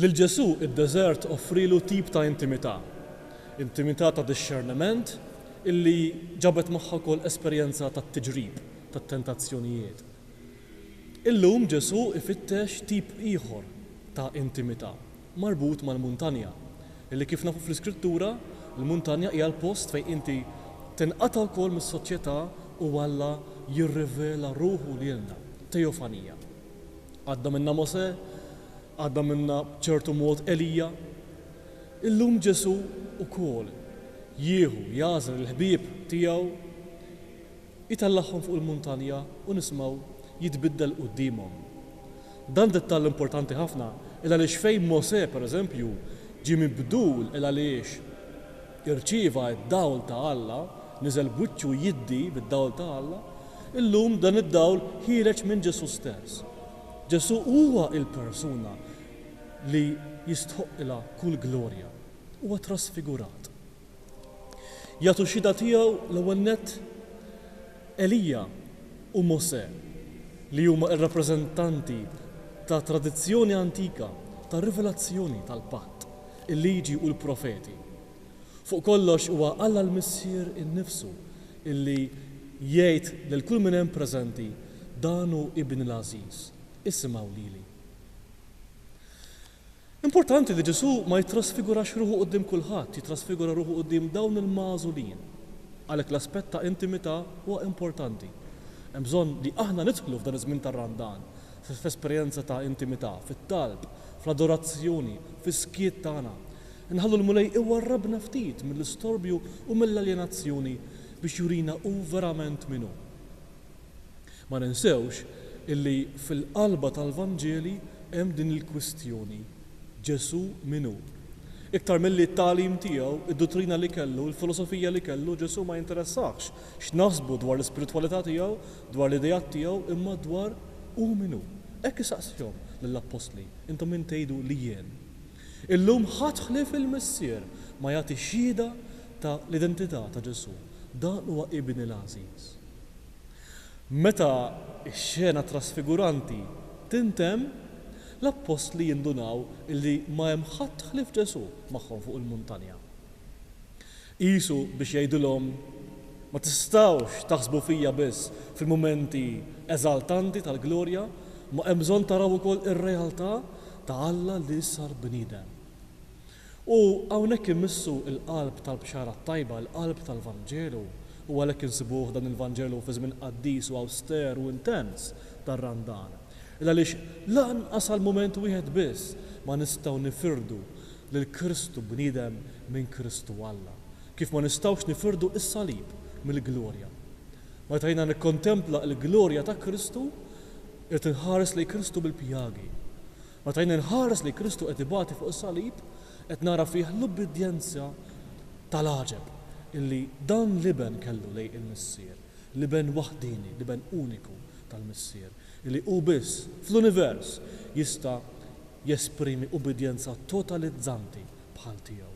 Lil Ġesù id-deżert offrielu tip ta' intimità, intimità ta' dixxerniment illi ġabet magħha wkoll esperjenza tat-tiġrib, tat-tentazzjonijiet. Illum Ġesù ifittex tip ieħor ta' intimità, marbut mal-muntanja, illi kif nafu fl-Iskrittura, il-muntanja hija l-post fejn inti tinqata' wkoll mis-soċjetà u Alla jirrivela ruħu lilna, teofanija. Għadda minnha Mosè, għadda minnha b'ċertu mod Elija. Illum Ġesù wkoll jieħu, jagħżel il-ħbieb tiegħu, itellagħhom fuq il-muntanja u nisimgħu jitbiddel quddiemhom. Dan dettall importanti ħafna il għaliex fejn Mosè, pereżempju, ġie mibdul il għaliex? irċieva d-dawl ta' Alla, niżel b'wiċċu jiddi bid-dawl ta' Alla, illum dan id-dawl ħiereġ minn Ġesù stess. Ġesù huwa l-persuna li jistħoqqilha kull glorja. Huwa trasfigurat. Jagħtu xhieda tiegħu l-ewwel nett Elija u Mosè li huma r-rappreżentanti ta' tradizzjoni antika ta' rivelazzjoni tal-Patt. il-Liġi u l-Profeti. Fuq kollox huwa Alla l-Missier innifsu li jgħid lil kull min hemm preżenti, Dan hu Ibni l-għażiż, isimgħu lili. Importanti li Ġesù ma jittrasfigurax ruħu quddiem kulħadd, jittrasfigura ruħu quddiem dawn il-magħżulin. Għalhekk l-aspett ta' intimità huwa importanti. Hemm bżonn li aħna nidħlu f'dan iż-żmien tar-Randan f'esperjenza ta' intimità, fit-talb, Fl-adorazzjoni, fis-skiet tagħna, inħallu l-Mulej iwarrabna ftit mill-istorbju u mill-aljenazzjoni biex jurina Hu verament min Hu. Ma ninsewx illi fil-qalba tal-Vanġeli hemm din il-kwistjoni, Ġesù min hu? Iktar milli t-tagħlim tiegħu, id-duttrina li kellu, il-filosofija li kellu, Ġesù ma jinteressahx x'naħsbu dwar l-ispiritwalità tiegħu dwar l-ideat tiegħu imma dwar hu min hu. Hekk isaqsihom lill-appostli, Intom min tgħidu li jien? Illum ħadd ħlief il-Missier ma jagħti xhieda ta' l-identità ta' Ġesù. Dan huwa Ibni l-għażiż. Meta x-xena trasfiguranti tintemm, l-appostli jindunaw li ma hemm ħadd ħlief Ġesù magħhom fuq il-muntanja. Qisu biex jgħidilhom, Ma tistgħux taħsbu fija biss fil-mumenti eżaltanti tal-glorja, imma hemm bżonn taraw ukoll ir-realtà ta' Alla li sar bniedem. U hawnhekk imissu l-qalb tal-Bxara t-Tajba, l-qalb tal-Vanġelu, u għalhekk insibuh dan il-Vanġelu fi żmien qaddis u awster u intens tar-Randan. Il-għaliex lanqas għal mument wieħed biss ma nistgħu nifirdu lil Kristu bniedem minn Kristu Alla, kif ma nistgħux nifirdu s-salib mill-glorja. Meta jiena nikkontempla l-glorja ta' Kristu, irid inħares lejn Kristu bil-pjagi. Meta jien inħares lejn Kristu qed ibati fuq is-salib, qed nara fih l-ubbidjenza tal-għaġeb li dan l-Iben kellu lejn il-Missier, l-Iben waħdieni, l-Iben uniku tal-Missier, li hu biss fl-univers jista' jesprimi ubbidjenza totalizzanti bħal tiegħu.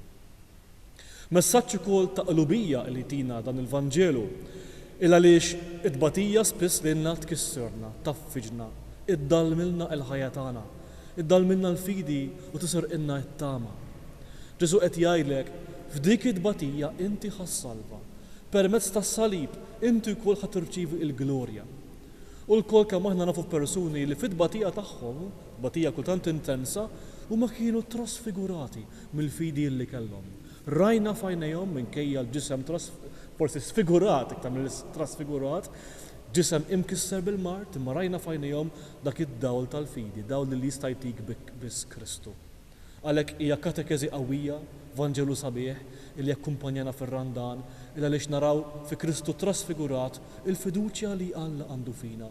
Messaġġ ukoll ta' qlubija li jtina dan il-Vanġelu, il għaliex it-tbatija spiss lilna tkisserna, tgħaffiġna, iddallmilna l-ħajja tagħna, iddallmilna l-fidi u tisirqilna t-tama. Ġesù qed jgħidlek, f'dik it-tbatija inti ħa ssalva, permezz tas-salib inti wkoll ħa tirċievi l-glorja. U lkoll kemm aħna nafu persuni li fit-tbatija tagħhom, Tbatija kultant intensa, huma kienu trasfigurati mill-fidi li kellhom. Rajna f'għajnejhom, minkejja l-ġisem tras, forsi sfigurat iktar milli trasfigurat, ġisem imkisser bil-mard, imma rajna f'għajnejhom dak id-dawl tal-fidi, dawl li jista' jtik biss Kristu. Għalhekk hija katekeżi qawwija, Vanġelu sabiħ, li jakkumpanjana fir-Randan, il għaliex naraw fi Kristu trasfigurat il-fiduċja li Alla għandu fina,